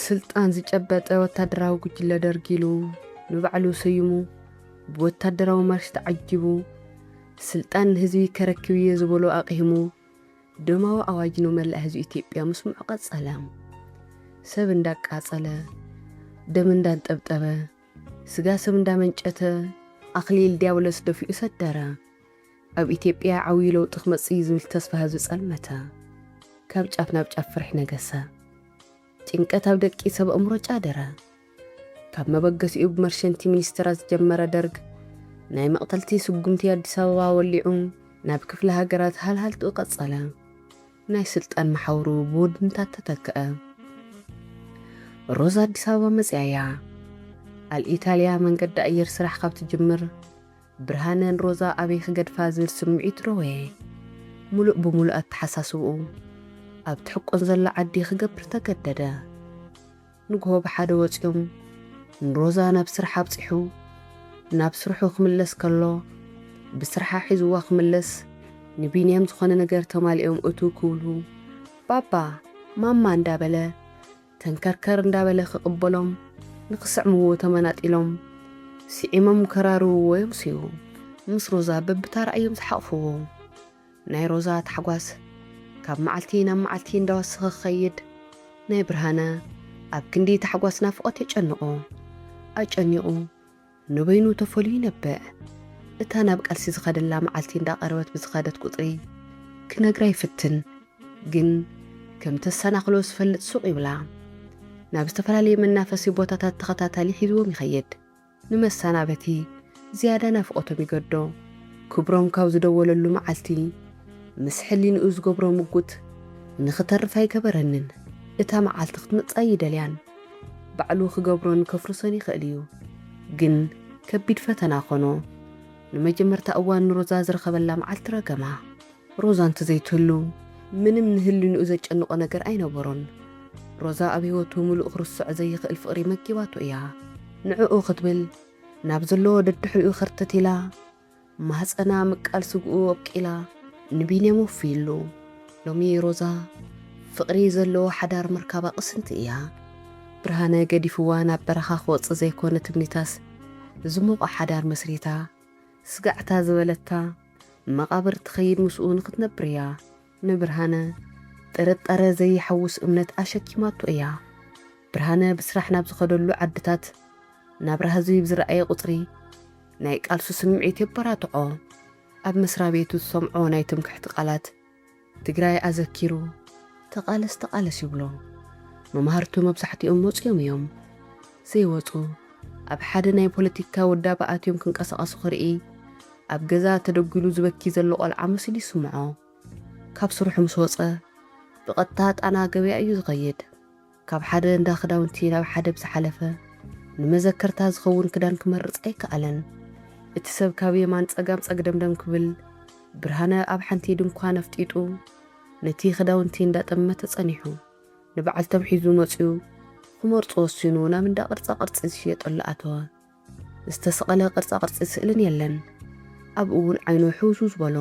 ስልጣን ዝጨበጠ ወታደራዊ ጉጅለ ደርጊ ኢሉ ንባዕሉ ሰይሙ ብወታደራዊ ማርሽ ተዓጂቡ ስልጣን ንህዝቢ ከረክብ እየ ዝበሎ ኣቕሂሙ ደማዊ ኣዋጅ ነው መላእ ህዝቢ ኢትዮጵያ ምስምዑ ቀጸለ። ሰብ እንዳቃጸለ፣ ደም እንዳንጠብጠበ፣ ስጋ ሰብ እንዳመንጨተ ኣኽሊል ዲያብሎስ ደፊኡ ሰደረ። ኣብ ኢትዮጵያ ዓብዩ ለውጢ ክመፅእ እዩ ዝብል ተስፋ ህዝቢ ፀልመተ። ካብ ጫፍ ናብ ጫፍ ፍርሒ ነገሰ። ጭንቀት ኣብ ደቂ ሰብ ኣእምሮ ጫደረ። ካብ መበገሲኡ ብመርሸንቲ ሚኒስትራት ዝጀመረ ደርግ ናይ መቕተልቲ ስጉምቲ ኣዲስ ኣበባ ወሊዑ ናብ ክፍለ ሃገራት ሃልሃልትኡ ቀፀለ። ናይ ስልጣን መሓውሩ ብውድንታት ተተክአ። ሮዛ ኣዲስ ኣበባ መፂኣ እያ። ኣል ኢታልያ መንገዲ ኣየር ስራሕ ካብ ትጅምር ብርሃነ ን ሮዛ ኣበይ ክገድፋ ዝብል ስምዒት ረወየ። ምሉእ ብምሉእ ኣተሓሳስብኡ ኣብ ትሕቆን ዘላ ዓዲ ክገብር ተገደደ። ንግሆ ብሓደ ወጺኦም ን ሮዛ ናብ ስራሕ ኣብጺሑ ናብ ስርሑ ክምለስ ከሎ ብስርሓ ሒዝዋ ክምለስ ን ቢንያም ዝኾነ ነገር ተማሊኦም እትው ክብሉ ባባ ማማ እንዳበለ ተንከርከር እንዳበለ ክቕበሎም ንክስዕምዎ ተመናጢሎም ስዒሞም ከራርውዎ የምስዩ ምስ ሮዛ በብታራ እዮም ዝሓቕፍዎ ናይ ሮዛ ታሕጓስ ካብ መዓልቲ ናብ መዓልቲ እንዳወሰኸ ክኸይድ ናይ ብርሃነ ኣብ ክንዲ ታሕጓስ ናፍቖት የጨንቖ ኣጨኒቑ ንበይኑ ተፈልዩ ይነብዕ። እታ ናብ ቃልሲ ዝኸደላ መዓልቲ እንዳቐረበት ብዝኸደት ቁጽሪ ክነግራ ይፍትን ግን ከም ተሰናኽሎ ዝፈልጥ ሱቕ ይብላ። ናብ ዝተፈላለየ መናፈሲ ቦታታት ተኸታታሊ ሒዝዎም ይኸይድ። ንመሰናበቲ ዝያዳ ናፍቖቶም ይገዶ። ክብሮም ካብ ዝደወለሉ መዓልቲ ምስ ሕሊንኡ ዝገብሮ ምጉት ንኽተርፍ ኣይገበረንን። እታ መዓልቲ ክትመጽእ ኣይደልያን። ባዕሉ ክገብሮን ከፍርሶን ይኸእል እዩ። ግን ከቢድ ፈተና ኮኖ። ንመጀመርታ እዋን ንሮዛ ዝረኸበላ መዓልቲ ረገማ። ሮዛ እንተዘይትህሉ ምንም ንህሊንኡ ዘጨንቖ ነገር ኣይነበሮን። ሮዛ ኣብ ህይወቱ ምሉእ ክርስዖ ዘይኸእል ፍቕሪ መጊባቶ እያ። ንዕኡ ክትብል ናብ ዘለዎ ደድሕሪኡ ከርተት ኢላ። ማህጸና ምቃል ስግኡ ኣብቂላ ንቢንያም ወፍይሉ። ሎሚ ሮዛ ፍቕሪ ዘለዎ ሓዳር ምርካባ ቅስንቲ እያ። ብርሃነ ገዲፍዋ ናብ በረኻ ክወጽእ ዘይኮነ ትምኒታስ ዝሞቐ ሓዳር መስሪታ ስጋዕታ ዝበለታ መቓብር ትኸይድ ምስኡ ንክትነብር እያ። ንብርሃነ ጥርጣረ ዘይሓውስ እምነት ኣሸኪማቶ እያ። ብርሃነ ብስራሕ ናብ ዝኸደሉ ዓድታት ናብራ ህዝቢ ብዝረኣየ ቁጽሪ ናይ ቃልሱ ስምዒት የበራትዖ። ኣብ መስራቤቱ ዝሰምዖ ናይ ትምክሕቲ ቃላት ትግራይ ኣዘኪሩ ተቓለስ ተቓለስ ይብሎ። መማህርቱ መብዛሕቲኦም መጺኦም እዮም። ዘይወጹ ኣብ ሓደ ናይ ፖለቲካ ውዳበ ኣትዮም ክንቀሳቐሱ ክርኢ፣ ኣብ ገዛ ተደጒሉ ዝበኪ ዘሎ ቆልዓ መሲሉ ይስምዖ። ካብ ስርሑ ምስ ወጸ ብቐጥታ ጣና ገበያ እዩ ዝኸይድ። ካብ ሓደ እንዳ ክዳውንቲ ናብ ሓደ ብዝሓለፈ ንመዘከርታ ዝኸውን ክዳን ክመርጽ ኣይከኣለን። እቲ ሰብ ካብ የማን ጸጋም ጸግደምደም ክብል ብርሃነ ኣብ ሓንቲ ድንኳን ኣፍጢጡ ነቲ ክዳውንቲ እንዳጠመተ ጸኒሑ ንበዓልቶም ሒዙ መጽዩ ክመርጹ ወሲኑ ናብ እንዳ ቅርጻ ቅርጺ ዝሽየጠሉ ኣተወ። ዝተሰቐለ ቅርጻ ቅርጺ ስእልን የለን ኣብኡ እውን ዓይኑ ሕውስው ዝበሎ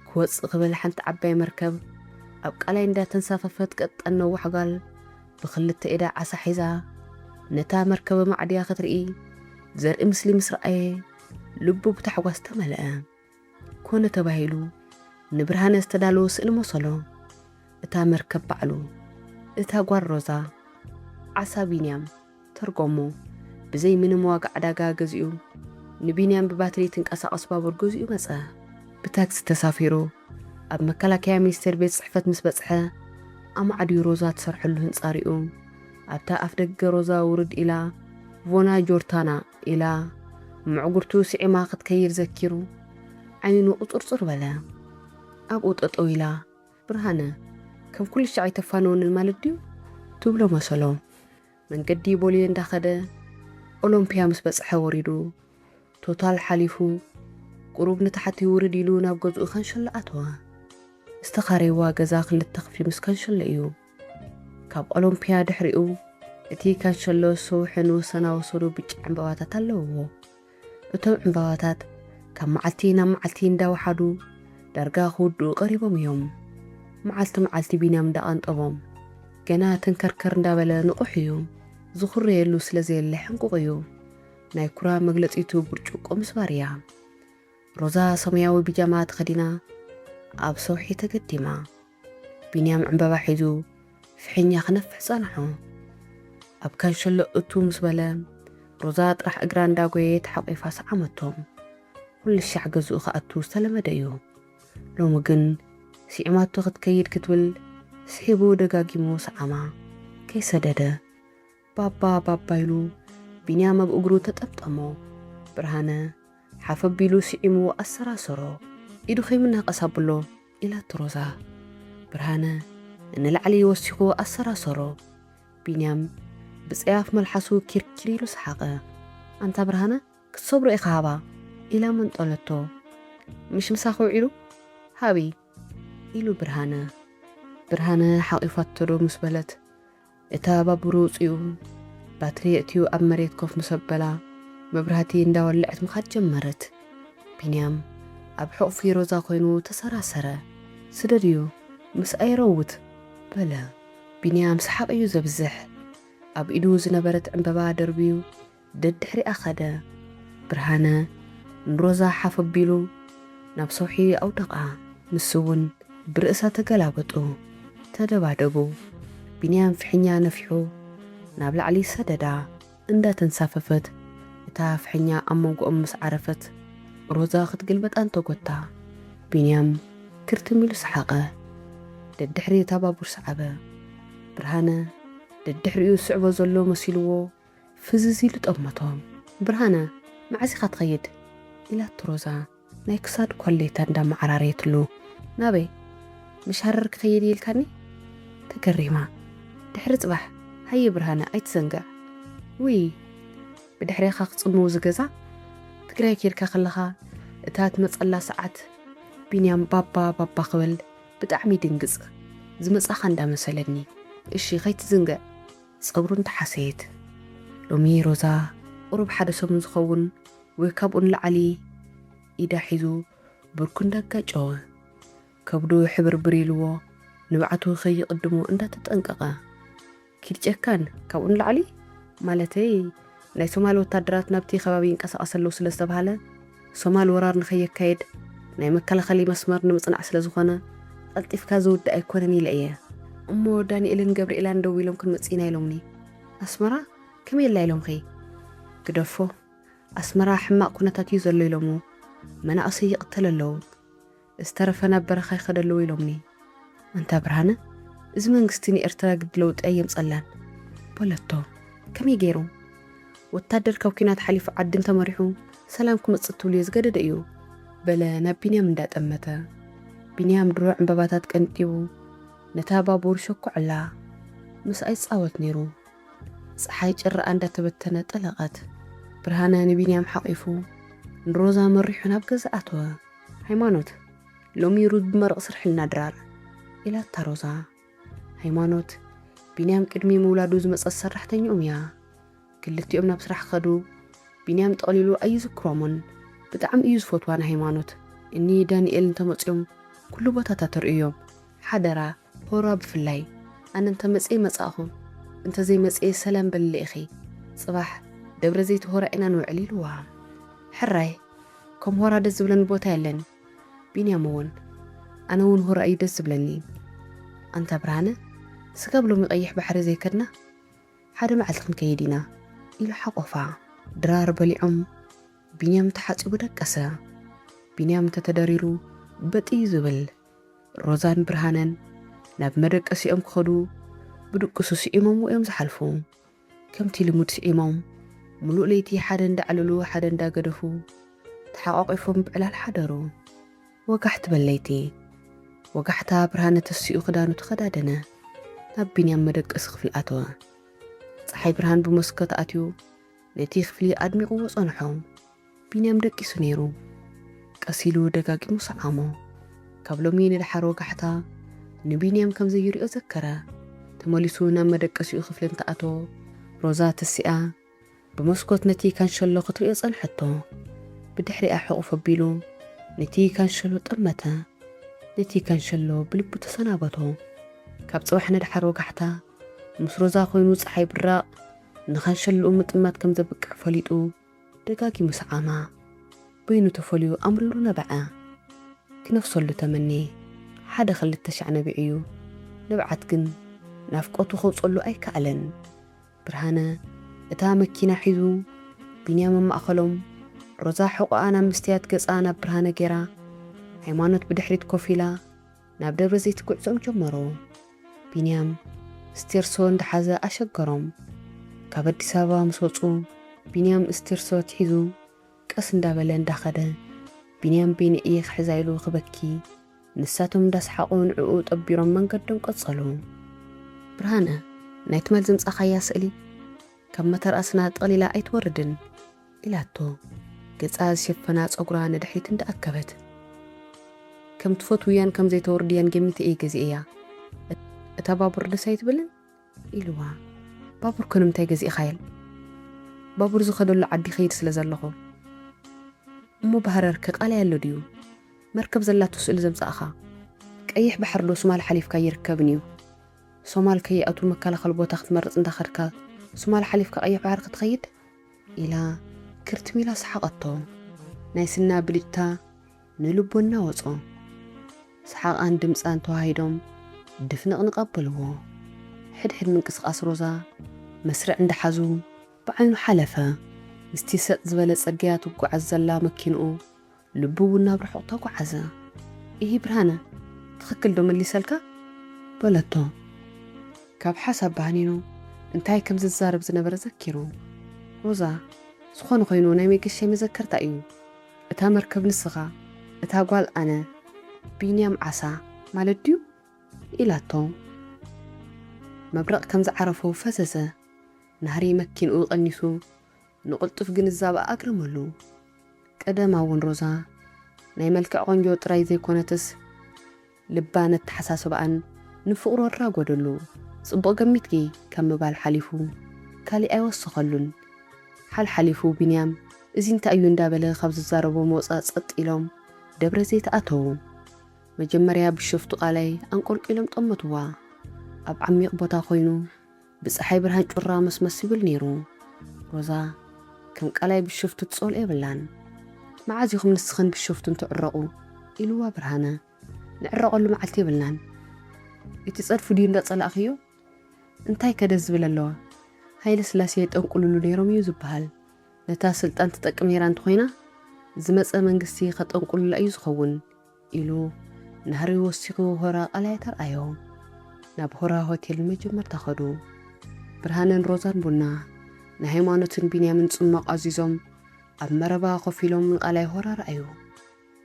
ክወጽእ ክብል ሓንቲ ዓባይ መርከብ ኣብ ቃላይ እንዳ ተንሳፈፈት ቀጠን ነዋሕ ጋል ብክልተ ኢዳ ዓሳ ሒዛ ነታ መርከበ ማዕድያ ክትርኢ ዘርኢ ምስሊ ምስ ረኣየ ልቡ ብታሕጓስ ተመለኣ። ኮነ ተባሂሉ ንብርሃነ ዝተዳለወ ስእሊ መሰሎ፣ እታ መርከብ ባዕሉ፣ እታ ጓል ሮዛ፣ ዓሳ ቢንያም፣ ተርጎሞ፣ ብዘይ ምንም ዋጋ ዕዳጋ ገዚኡ ንቢንያም ብባትሪ ትንቀሳቐስ ባቡር ገዚኡ መጸ። ብታክሲ ተሳፊሩ ኣብ መከላከያ ሚኒስቴር ቤት ጽሕፈት ምስ በጽሐ ኣማዕድዩ ሮዛ ትሰርሐሉ ህንጻ ሪኡ ኣብታ ኣፍደገ ሮዛ ውርድ ኢላ ቮና ጆርታና ኢላ ምዕጉርቱ ስዒማ ክትከይድ ዘኪሩ ዓይኑ ቁጽርጽር በለ። ኣብኡ ጠጠው ኢላ ብርሃነ ከም ኩልሻዕ ኣይተፋንወንን ማለት ድዩ? ትብሎ መሰሎ። መንገዲ ቦሌ እንዳኸደ ኦሎምፒያ ምስ በጽሐ ወሪዱ ቶታል ሓሊፉ ቁሩብ ንታሕቲ ውርድ ኢሉ ናብ ገዝኡ ከንሸሎ ኣተወ። ዝተኻረይዋ ገዛ ክልተ ክፍሊ ምስ ከንሸሎ እዩ። ካብ ኦሎምፒያ ድሕሪኡ እቲ ካንሸሎ ሰውሒ ንወሰናዊ ሰሉ ብጫ ዕምባባታት ኣለውዎ። እቶም ዕምባባታት ካብ መዓልቲ ናብ መዓልቲ እንዳወሓዱ ዳርጋ ክውድኡ ቀሪቦም እዮም። መዓልቲ መዓልቲ ቢንያም እንዳቐንጠቦም ገና ተንከርከር እንዳበለ ንቑሕ እዩ። ዝኹረየሉ ስለዘየለ ሕንቁቕ እዩ። ናይ ኩራ መግለጺቱ ብርጭቆ ምስባር እያ። ሮዛ ሰማያዊ ቢጃማ ተኸዲና ኣብ ሰውሒ ተገዲማ። ቢንያም ዕምበባ ሒዙ ፍሒኛ ክነፍሕ ጸንሖ። ኣብ ካንሸሎ እትው ምስ በለ፣ ሮዛ ጥራሕ እግራ እንዳጎየየት ሓቚፋ ሰዓመቶ። ኩልሻዕ ገዝኡ ክኣቱ ዝተለመደ እዩ። ሎሚ ግን ስዒማቶ ክትከይድ ክትብል ስሒቡ ደጋጊሙ ሰዓማ። ከይሰደደ። ባባ ባባ ኢሉ ቢንያም ኣብ እግሩ ተጠምጠሞ። ብርሃነ ሓፍ ኣቢሉ ስዒሙ ኣሰራሰሮ። ኢዱ ከይምናቀስ ኣብሎ ኢላቶ ሮዛ። ብርሃነ ንላዕሊ ወሲኹ ኣሰራሰሮ። ቢንያም ብጸያፍ መልሓሱ ኪርኪር ኢሉ ሰሓቐ። ኣንታ ብርሃነ ክትሰብሮ ኢኻ ሃባ ኢላ መንጠለቶ። ምሽ ምሳኺ ውዒሉ? ሃቢ ኢሉ ብርሃነ። ብርሃነ ሓቂፋቶዶ ምስ በለት እታ ባቡር ውጺኡ ባትሪ የእትዩ ኣብ መሬት ኮፍ ምስ ኣበላ መብራህቲ እንዳወለዐት ምኻድ ጀመረት። ቢንያም ኣብ ሕቑፊ ሮዛ ኮይኑ ተሰራሰረ። ስደድዮ ምስ ኣይረውት በለ። ቢንያም ሰሓቕ እዩ ዘብዝሕ። ኣብ ኢዱ ዝነበረት ዕንበባ ደርብዩ ደድሕሪኣ ከደ። ብርሃነ ንሮዛ ሓፍ ኣቢሉ ናብ ሰውሒ ኣውደቓ፣ ንሱ'ውን ብርእሳ ተገላበጡ። ተደባደቡ። ቢንያም ፍሕኛ ነፊሑ ናብ ላዕሊ ሰደዳ። እንዳ ተንሳፈፈት እታ ፍሕኛ ኣብ መንጎኦም ምስ ዓረፈት ሮዛ ክትግልበጥ ኣንተጎታ። ቢንያም ክርትም ኢሉ ሰሓቐ። ደድሕሪ እታ ባቡር ሰዓበ። ብርሃነ ደድሕሪኡ ዝስዕቦ ዘሎ መሲሉዎ፣ ፍዝዝ ኢሉ ጠመቶም። ብርሃነ፣ መዓዝ ኢኻ ትኸይድ? ኢላቶ ሮዛ ናይ ክሳድ ኮሌታ እንዳመዓራረየትሉ። ናበይ? ምሽ ሃረር ክኸይድ እየ ኢልካኒ? ተገሪማ። ድሕሪ ጽባሕ። ሃየ ብርሃነ ኣይትዘንግዕ። ውይ ብድሕሬኻ ክጽምው እዚ ገዛ? ትግራይ ኬድካ ከለኻ እታ ትመጸላ ሰዓት ቢንያም ባባ ባባ ክብል ብጣዕሚ ይድንግጽ። ዝመጻኻ እንዳመሰለኒ። እሺ ከይትዝንግዕ። ጸጉሩ እንተሓሰየት ሎሚ ሮዛ ቁሩብ ሓደ ሰሙን ዝኸውን ወይ ካብኡ ንላዕሊ ኢዳ ሒዙ ብርኩ እንዳጋጨወ ከብዱ ሕብርብር ኢልዎ ንብዓቱ ከይቕድሞ እንዳተጠንቀቐ ኪድ ጨካን ካብኡ ንላዕሊ ማለተይ ናይ ሶማል ወታደራት ናብቲ ከባቢ ይንቀሳቐሰ ኣለው ስለዝተብሃለ ሶማል ወራር ንከየካይድ ናይ መከላኸሊ መስመር ንምጽናዕ ስለ ዝኾነ ቐልጢፍካ ዝውዳእ ኣይኮነን ኢለ እየ። እሞ ዳኒኤልን ገብሪኤላን ደዊሎም ክንመጽእ ኢና ኢሎምኒ ኣስመራ ከመይ ኣላ ኢሎምኺ? ግደፎ ኣስመራ ሕማቕ ኩነታት እዩ ዘሎ ኢሎሞ መናእሰይ ይቕተል ኣለው። ዝተረፈ ናብ በረኻ ይኸድ ኣለዎ ኢሎምኒ። ኣንታ ብርሃነ እዚ መንግስቲ ንኤርትራ ግዲ ለውጢ ኣየምጸላን በለቶ። ከመይ ገይሩ ወታደር ካብ ኩናት ሓሊፉ ዓዲ እንተመሪሑ ሰላም ክመጽእ ትብልዮ ዝገደደ እዩ? በለ ናብ ቢንያም እንዳጠመተ። ቢንያም ድሮ ዕንበባታት ቀንጢቡ ነታ ባቡር ሸኩዐላ። ምስኣ ይጻወት ነይሩ። ጸሓይ ጭራኣ እንዳተበተነ ጠለቐት። ብርሃነ ንቢንያም ሓቚፉ ንሮዛ መሪሑ ናብ ገዛ ኣተወ። ሃይማኖት፣ ሎሚ ሩዝ ብመረቕ ስርሕልና ድራር። ኢላታ ሮዛ። ሃይማኖት፣ ቢንያም ቅድሚ ምውላዱ ዝመጸት ሰራሕተኝኦም እያ። ክልቲኦም ናብ ስራሕ ከዱ። ቢንያም ጠቕሊሉ ኣይዝክሮሙን። ብጣዕሚ እዩ ዝፈትዋ ንሃይማኖት። እኒ ዳኒኤል እንተመጽዮም ኩሉ ቦታ ታተርእዮም። ሓደራ! ሆራ ብፍላይ ኣነ እንተ መጽየ መጻእኹ እንተ ዘይ መጽየ ሰላም በልለይ ኢኺ ጽባሕ ደብረ ዘይቲ ሆራ ኢና ንውዕል ኢልዋ ሕራይ ከም ሆራ ደስ ዝብለኒ ቦታ የለን ቢንያም እውን ኣነ እውን ሆራ እዩ ደስ ዝብለኒ ኣንታ ብርሃነ ስጋብ ሎሚ ቀይሕ ባሕሪ ዘይ ከድና ሓደ መዓልቲ ክንከይድ ኢና ኢሉ ሓቆፋ ድራር በሊዖም ቢንያም ተሓጺቡ ደቀሰ ቢንያም እንተ ተደሪሩ በጥ እዩ ዝብል ሮዛን ብርሃነን ናብ መደቀሲኦም ክኸዱ ብድቅሱ ስዒሞምዎ እዮም ዝሓልፉ። ከምቲ ልሙድ ስዒሞም ምሉእ ለይቲ ሓደ እንዳዕለሉ ሓደ እንዳገደፉ ተሓቋቒፎም ብዕላል ሓደሩ። ወጋሕ ትበል ለይቲ። ወጋሕታ ብርሃነ ተሲኡ ክዳኑ ተኸዳደነ። ናብ ቢንያም መደቀሲ ክፍሊ ኣተወ። ፀሓይ ብርሃን ብመስኮት ኣትዩ ነቲ ክፍሊ ኣድሚቕዎ ፀንሖ። ቢንያም ደቂሱ ነይሩ። ቀስ ኢሉ ደጋጊሙ ሰዓሞ። ካብ ሎሚ ንደሓር ወጋሕታ ንቢንያም ከም ዘይሪኦ ዘከረ። ተመሊሱ ናብ መደቀሲኡ ክፍሊ እንተኣተወ፣ ሮዛ ተሲኣ ብመስኮት ነቲ ካንሸሎ ክትሪኦ ጸንሐቶ። ብድሕሪኣ ሕቑፍ ኣቢሉ ነቲ ካንሸሎ ጠመተ። ነቲ ካንሸሎ ብልቡ ተሰናበቶ። ካብ ጽባሕ ንደሓር ወጋሕታ ምስ ሮዛ ኮይኑ ጸሓይ ብራቕ ንካንሸሎኡ ምጥማት ከም ዘብቅዕ ፈሊጡ፣ ደጋጊሙ ሰዓማ በይኑ ተፈልዩ ኣምሪሩ ነበዐ። ኪነፍሰሉ ተመኔ ሓደ ክልተ ሻዕ ነቢዑ'ዩ ንብዓት ግን ናፍቆቱ ከውጸሉ ኣይከኣለን። ብርሃነ እታ መኪና ሒዙ ቢንያም ኣብ ማእከሎም ሮዛ ሕቖኣ ናብ መስትያት ገጻ ናብ ብርሃነ ጌራ ሃይማኖት ብድሕሪት ኮፍ ኢላ ናብ ደብረ ዘይት ጉዕዞኦም ጀመሩ። ቢንያም ስቴርሶ እንዳሓዘ ኣሸገሮም። ካብ ኣዲስ ኣበባ ምስ ወጹ ቢንያም እስቴርሶ ኣትሒዙ ቀስ እንዳበለ እንዳኸደ ቢንያም በይነይ እየ ክሕዛ ኢሉ ክበኪ ንሳቶም እንዳሰሓቑ ንዕኡ ጠቢሮም መንገዶም ቀጸሉ። ብርሃነ፣ ናይ ትማል ዘምጻኻያ ስእሊ ካብ መተርኣስና ጠቕሊላ ኣይትወርድን። ኢላቶ ገጻ ዝሸፈና ጸጉራ ንድሕሪት እንዳ ኣከበት። ከም ትፈትውያን ከም ዘይተወርድያን ገሚተ እየ ገዚኤያ። እታ ባቡር ደስ ኣይትብልን? ኢልዋ። ባቡር ከ ንምንታይ ገዚእኻየል? ባቡር ዝኸደሉ ዓዲ ይኸይድ ስለ ዘለኹ። እሞ ብሃረር ከ ቃላይ ኣሎ ድዩ? መርከብ ዘላቶ ስእሊ ዘምጻእኻ? ቀይሕ ባሕሪ ዶ ሱማል ሓሊፍካ ኣይርከብን እዩ? ሶማል ከይኣትው መከላኸሊ ቦታ ክትመርጽ እንዳ ኸድካ ሱማል ሓሊፍካ ቀይሕ ባሕሪ ክትኸይድ? ኢላ ክርትም ኢላ ሰሓቐቶ። ናይ ስና ብልጭታ ንልቦና ወጾ። ሰሓቓን ድምጻን ተወሃሂዶም ድፍንቕንቕ ኣበልዎ። ሕድሕድ ምንቅስቓስ ሮዛ መስርዕ እንዳሓዙ ብዓይኑ ሓለፈ። ምስቲ ሰጥ ዝበለ ጽርግያ ትጓዓዝ ዘላ መኪንኡ ልቡ እውን ናብ ርሑቕ ተጓዓዘ። ኢሂ ብርሃነ፣ ትኽክል ዶ መሊሰልካ? በለቶ ካብ ሓሳብ ባኒኑ እንታይ ከም ዝዛረብ ዝነበረ ዘኪሩ። ሮዛ፣ ዝኾነ ኾይኑ ናይ መገሻይ መዘከርታ እዩ። እታ መርከብ ንስኻ፣ እታ ጓል ኣነ፣ ቢንያም ዓሳ ማለት ድዩ? ኢላቶ። መብረቕ ከም ዝዓረፎ ፈዘዘ። ናህሪ መኪንኡ ቀኒሱ ንቕልጡፍ ግንዛበኣ ኣግርመሉ። ቀደም ኣውን ሮዛ ናይ መልክዕ ቆንጆ ጥራይ ዘይኮነትስ ልባን ኣተሓሳስባኣን ንፍቕሩ ኣራጎደሉ። ጽቡቕ ገሚትኪ ካብ ምባል ሓሊፉ ካሊእ ኣይወሰኸሉን። ሓልሓሊፉ ቢንያም እዚ እንታይ እዩ እንዳበለ ካብ ዝዛረቦም ወጻእ ጸጥ ኢሎም ደብረዘይት ኣተዉ። መጀመርያ ብሸፍቱ ቃላይ ኣንቆልቂሎም ጠመትዋ። ኣብ ዓሚቕ ቦታ ኮይኑ። ብጸሓይ ብርሃን ጩራ መስመስ ይብል ነይሩ። ሮዛ ከም ቃላይ ብሸፍቱ ትጸልኦ የብላን። መዓዝ ኢኹም ንስኽን ብሸፍቱን ትዕረቑ? ኢሉዋ ብርሃነ። ንዕረቐሉ መዓልቲ የብልናን። እቲ ጸድፊ ድዩ እንዳ ጸላእኽዮ? እንታይ ከ ደስ ዝብል ኣለዋ? ሃይለስላሴ የጠንቁልሉ ነይሮም እዩ ዝበሃል። ነታ ስልጣን ትጠቅም ነይራ እንተኾይና ዝመጸ መንግስቲ ከጠንቁሉላ እዩ ዝኸውን። ኢሉ ናህሪ ወሲኹ ሆራ ቃላይ ተርኣዮም። ናብ ሆራ ሆቴል ንመጀመርታ ከዱ። ብርሃነን ሮዛን ቡና ናይ ሃይማኖትን ቢንያምን ጽሟቕ ኣዚዞም ኣብ መረባ ኮፍ ኢሎም ንቃላይ ሆራ ረኣዩ።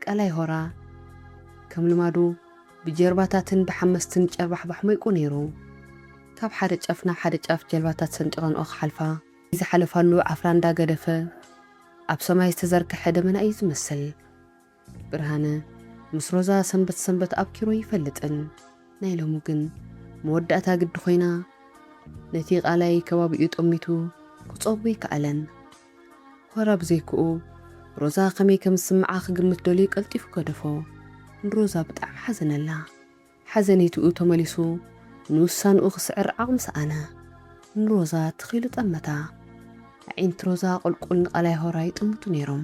ቃላይ ሆራ ከም ልማዱ ብጀልባታትን ብሓመስትን ጨርባሕባሕ ሞይቁ ነይሩ። ካብ ሓደ ጫፍ ናብ ሓደ ጫፍ ጀልባታት ሰንጢቐንኦ ክሓልፋ። እቲ ዝሓለፋሉ ዓፍራ እንዳገደፈ ኣብ ሰማይ ዝተዘርገሐ ደመና እዩ ዝመስል። ብርሃነ ምስ ሮዛ ሰንበት ሰንበት ኣብኪሩ ኣይፈልጥን ናይ ሎሚ ግን መወዳእታ ግዲ ኮይና ነቲ ቃላይ ከባቢኡ ጠሚቱ ክጸቡ ኣይከኣለን ሆራ ብዘይክኡ ሮዛ ከመይ ከም ዝስምዓ ክግምት ደልዩ ቀልጢፉ ገደፎ ንሮዛ ብጣዕሚ ሓዘነላ ሓዘኔትኡ ተመሊሱ ንውሳንኡ ክስዕር ዓቕሚ ሰኣነ ንሮዛ ትኽ ኢሉ ጠመታ ኣዒንቲ ሮዛ ቁልቁል ንቃላይ ሆራ ይጥምቱ ኔሮም